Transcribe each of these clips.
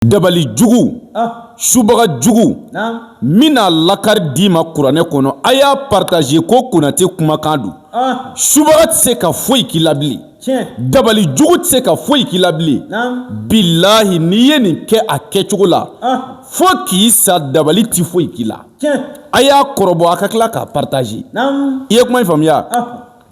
dabali jugu subaga jugu min n'a lakari d'i ma kuranɛ kɔnɔ a y'a paritaze ko konatɛ kumakan don subaga tɛ se ka foyi k'i la bilen dabali jugu tɛ se ka foyi k'i la bilen bilahi n'i ye nin kɛ a kɛcogo la fo k'i sa dabali tɛ foyi k'i la a y'a kɔrɔbɔ a ka tila k'a paritaze i ye kuma faamuya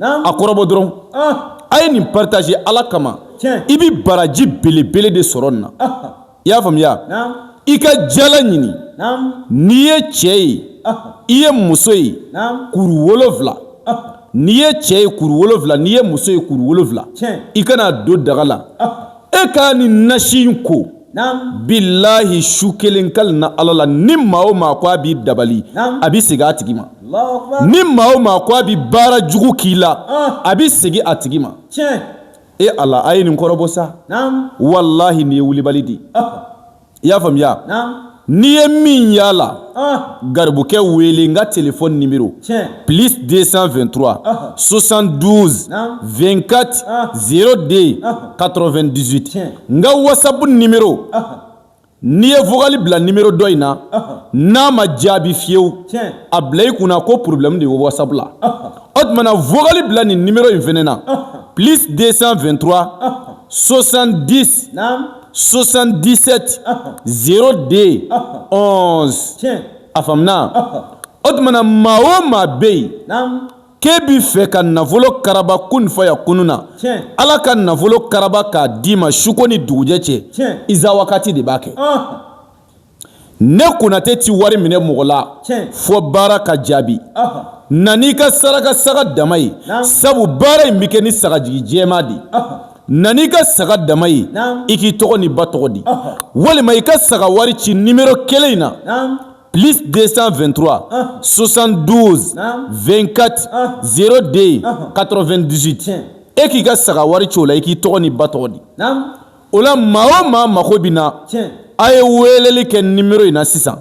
a kɔrɔbɔ dɔrɔn a ye nin paritaze ala kama i bɛ baraji belebele de sɔrɔ nin na i y'a faamuya i ka jala ɲini n'i ye cɛ ye i ye muso ye kuru wolowula n'i ye cɛ ye kuru wolowula n'i ye muso ye kuru wolowula i ka n'a don daga la e k'a ni nasi in ko bilahi su kelen kali na ala la ni maa o maa ko a b'i dabali a bɛ segin a tigi ma ni maa o maa ko a bɛ baara jugu k'i la a bɛ segin a tigi ma e ala a ye nin kɔrɔbɔ sa walahi nin ye wulibali di i y'a faamuya n'i ye min y'a la garibukɛ wele n ka telefɔni nimero plus 223 72 24 02 98 n ka wasapu nimero n'i ye vokali bila nimero dɔ in na n'a ma jaabi fiyewu a bila i kunna ko porobilɛmu de ye wasapu la o tuma na vokali bila nin nimero in fɛnɛ na plus 223 70 77 02 11 a faamuna o tuma na maa o maa bɛ yen k'e bɛ fɛ ka nafolo karaba kun fayakunu na ala ka nafolo karaba k'a d'i ma suko ni dugujɛ cɛ isa wagati de b'a kɛ ne konatɛ tɛ wari minɛ mɔgɔ la fɔ baara ka jaabi na n'i ka saraka saga dama ye sabu baara in bɛ kɛ ni sagajigi jɛma de na n'i ka saga dama ye i k'i tɔgɔ ni ba tɔgɔ di walima i ka saga wari ci nimero kelen in na plus 223 72 24 02 98 e k'i ka saga wari ci o la i k'i tɔgɔ ni ba tɔgɔ di o la maa o maa mago bɛ n na a ye weleli kɛ nimero in na sisan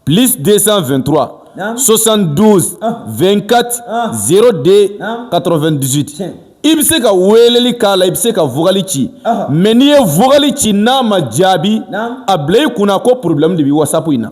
plus 223 72 24 02 98 i bɛ se ka weleli k'a la i bɛ se ka vokali ci mɛ n'i ye vokali ci n'a ma jaabi a bila i kunna ko porobilɛmu de bɛ wasapu in na